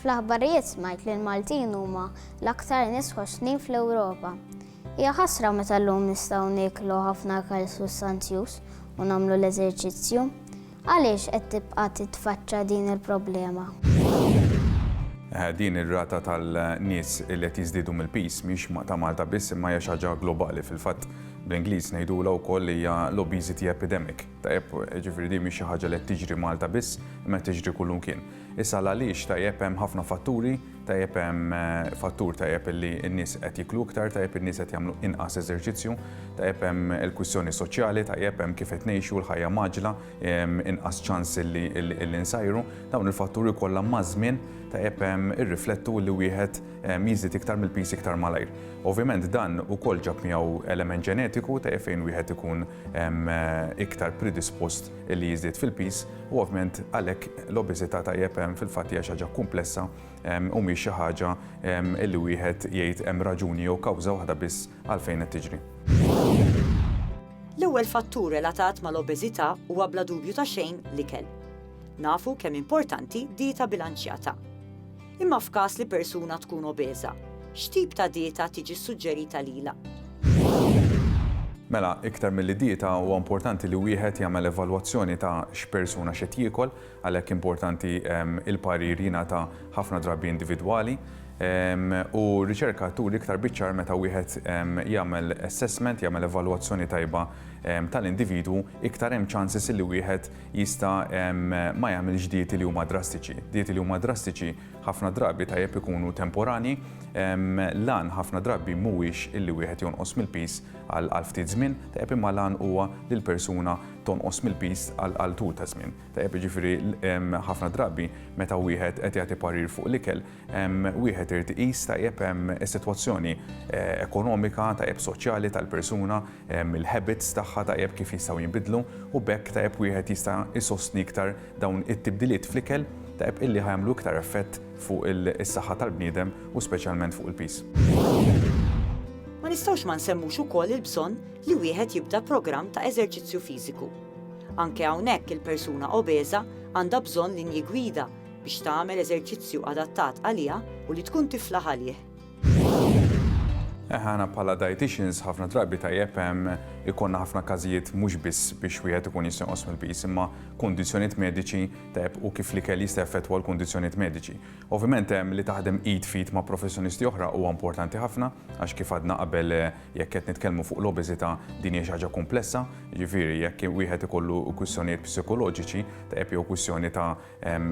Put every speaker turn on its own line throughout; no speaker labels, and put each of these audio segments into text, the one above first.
Fl-aħbarijiet smajt li l-Maltin huma l-aktar nies ħoxnin fl-Ewropa. Hija ħasra meta llum nistgħu nieklu ħafna ikel sustanzjuż u nagħmlu l-eżerċizzju. Għaliex qed tibqa' titfaċċa din il-problema?
Din ir-rata tal-nies li qed jiżdiedu mill-piż mhix ta' Malta biss imma hija xi ħaġa globali. Fil-fatt bl-Ingliż ngħidulha wkoll li hija l-obesity epidemic. Tajjeb, jiġifieri din mhix xi ħaġa li qed tiġri Malta biss imma qed tiġri kullimkien. Issa l-għaliex tajjeb hemm ħafna fatturi, tajjeb hemm fattur tajjeb illi n-nies qed jiklu iktar, tajjeb in-nies qed jagħmlu inqas eżerċizzju, tajjeb hemm il-kwistjoni soċjali, tajjeb hemm kif qed ngħixu l-ħajja maġla, inqas ċans illi illi nsajru. Dawn il-fatturi kollha maż-żmien tajjeb hemm irriflettu li wieħed jiżdied iktar mill-piż iktar malajr. Ovvjament dan ukoll ġab miegħu element ġenetiku tajjeb fejn wieħed ikun iktar predispost li jiżdied fil-piż u ovvjament għalhekk l-obeżità tajjeb hemm fil-fatt hija xi ħaġa kumplessa u mhix xi ħaġa li wieħed jgħid hemm raġuni jew kawża waħda biss għalfejn qed tiġri.
L-ewwel fattur relatat mal-obeżità huwa bla dubju ta' xejn l-ikel. Nafu kemm importanti dieta bilanċjata. Imma f'każ li persuna tkun obeża, x'tip ta' dieta tiġi ssuġġerita lilha?
Mela, iktar milli dieta, huwa importanti li wieħed jagħmel evalwazzjoni ta' x'persuna x'qed jiekol, għalhekk importanti il-parir jingħata ħafna drabi individwali. U r-riċerka turi iktar biċ-ċar meta wieħed jagħmel assessment, jagħmel evalwazzjoni tajba tal-individwu, iktar hemm chances li wieħed jista' ma jagħmilx dieti li huma drastiċi. Dieti li huma drastiċi ħafna drabi tajjeb ikunu temporani, l-għan ħafna drabi mhuwiex illi wieħed jonqos mill-piż għal ftit żmien, tajjeb imma l-għan huwa li l-persuna tonqos mill-piż għal tul ta' żmien. Tajjeb jiġifieri ħafna drabi meta wieħed qed jagħti parir fuq l-ikel, wieħed irid iqis tajjeb is-sitwazzjoni eh, ekonomika, tajjeb soċjali tal-persuna, il-habits tagħha tajjeb kif jistgħu jinbidlu u bekk tajjeb wieħed jista' jsostni iktar dawn it-tibdiliet fl-ikel tajjeb illi ħajamlu iktar effett fuq is-saħħa tal-bniedem u speċjalment fuq il-pis.
Ma nistgħux ma nsemmux ukoll il-bżonn li wieħed jibda programm ta' eżerċizzju fiżiku. Anke hawnhekk il-persuna obeża għandha bżonn linji gwida biex tagħmel eżerċizzju adattat għaliha u li tkun tifla għalih. Eħe
aħna bħala dietitians ħafna drabi tajjeb hemm ikonna ħafna każijiet mhux biss biex wieħed ikun jista' jonqos mill-piż imma kundizzjonijiet mediċi tajjeb u kif l-ikel jista' effettwa l-kundizzjonijiet mediċi. Ovvjament hemm li taħdem id fit ma' professjonisti oħra huwa importanti ħafna għax kif għadna qabel eh, jekk qed nitkellmu fuq l-obeżità din hija xi ħaġa komplessa, jiġifieri jekk wieħed ikollu kwistjonijiet psikoloġiċi tajjeb jew kwistjoni ta'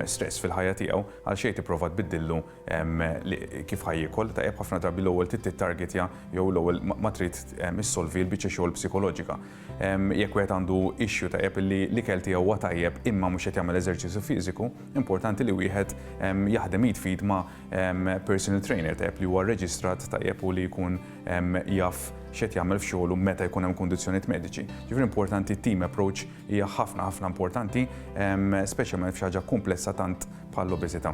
stress fil-ħajja tiegħu, għal xejn tipprova tbiddillu kif ħaj jiekol, tajjeb ħafna drabi l-ewwel trid tittargetja jew l-ewwel ma trid issolvi l-biċċa xogħol psikoloġika. Jekk wieħed għandu issue tajjeb li l-ikel tiegħu huwa tajjeb imma mhux qed jagħmel eżerċizzju fiżiku, importanti li wieħed jaħdem id f'id ma' personal trainer tajjeb li huwa rreġistrat tajjeb u li jkun jaf x'qed jagħmel f'xogħlu meta jkun hemm kundizzjonijiet mediċi. Ġifieri importanti team approach Hija ħafna ħafna importanti, speċjalment f'xi ħaġa kumplessa tant bħall-obeżità.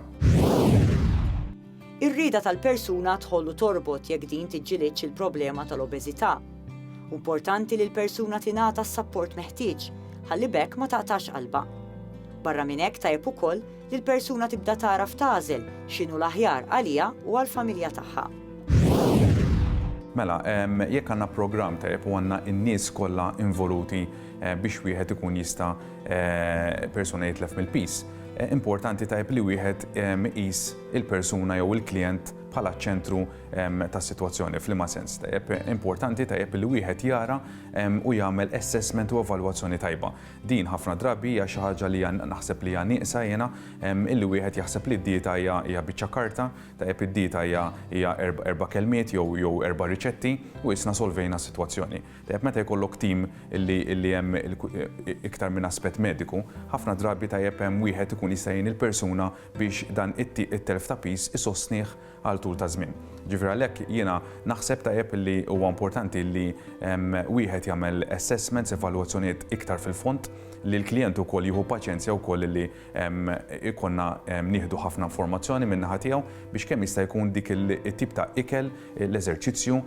Ir-rieda tal-persuna tħollu torbot jekk din tiġġilidx il-problema tal-obeżità. Importanti li l-persuna tingħata s-sapport meħtieġ ħalli bekk ma taqtax qalba. Barra minn hekk tajjeb ukoll li l-persuna tibda tagħraf tagħżel x'inhu l-aħjar għaliha u għall-familja tagħha. Mela,
jekk għandna programm tajjeb u għandna n-nies kollha involuti biex wieħed ikun jista' persuna jitlef mill-piż. Importanti tajb li wieħed iqis il-persuna jew il-klijent bħala ċentru ta' situazzjoni f'liema sens tajjeb. Importanti tajjeb li wieħed jara u jagħmel assessment u evalwazzjoni tajba. Din ħafna drabi hija xi ħaġa li naħseb li hija nieqsa jiena illi wieħed jaħseb li d-dieta hija biċċa karta, tajjeb id-dieta hija erba' kelmiet jew erba' riċetti u isna solvejna s-sitwazzjoni. Tajjeb meta jkollok tim li hemm iktar minn aspett mediku, ħafna drabi tajjeb hemm wieħed ikun jista' jgħin il-persuna biex dan it-telf ta' piż isostnih għal tul ta' żmien. Ġifieri għalhekk jiena naħseb tajjeb li huwa importanti li wieħed jagħmel assessments, evalwazzjonijiet iktar fil-fond, li l-klijent ukoll jieħu paċenzja wkoll li Ikollna nieħdu ħafna informazzjoni min-naħa tiegħu biex kemm jista' jkun dik it-tip ta' ikel, l-eżerċizzju,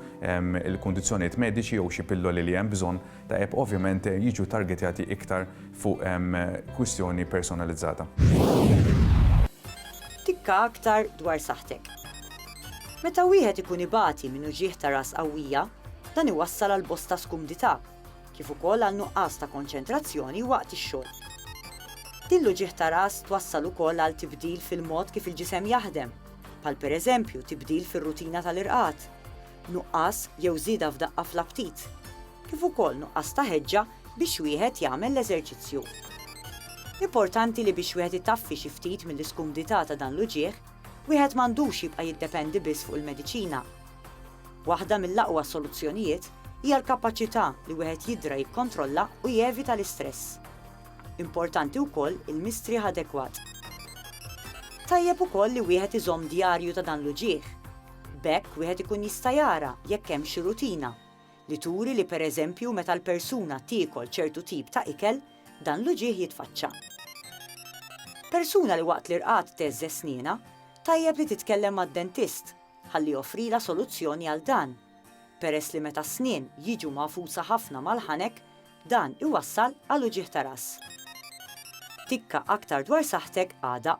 il-kundizzjonijiet mediċi jew xi pilloli li hemm bżonn ta' app ovvjament jiġu targetjati iktar fuq kwistjoni personalizzata.
Tikka aktar dwar saħħtek. Meta wieħed ikun ibati minn uġigħ ta' ras qawwija, dan iwassal għal bosta skumdità. kif ukoll għal nuqqas ta' konċentrazzjoni waqt ix-xogħol. Din l-uġigħ ta' ras twassal ukoll għal tibdil fil-mod kif il-ġisem jaħdem, bħal pereżempju tibdil fir-rutina tal-irqad, nuqqas jew żieda f'daqqa fl-aptit, kif ukoll nuqqas ta' ħeġġa biex wieħed jagħmel l-eżerċizzju. Importanti li biex wieħed itaffi xi ftit mill-iskumdità ta' dan l-uġigħ, wieħed m'għandux jibqa' jiddependi biss fuq il-mediċina. Waħda mill-aqwa soluzzjonijiet hija l-kapaċità li wieħed jiddra jikkontrolla u jevita l-istress. Importanti wkoll il-mistrieħ adekwat. Tajjeb ukoll li wieħed iżomm djarju ta' dan l-uġigħ. B'hekk wieħed ikun jista' jara jekk hemm xi rutina li turi li pereżempju meta l-persuna tiekol ċertu tip ta' ikel, dan l-uġigħ jitfaċċa. Persuna li waqt l-irqad tgħeżżeż snienha, tajjeb li titkellem mad-dentist ħalli joffrilha soluzzjoni għal dan, peress li meta s-snien jiġu magħfusa ħafna mal-ħanek, dan iwassal għal uġigħ ta' ras. Tikka aktar dwar saħħtek għada.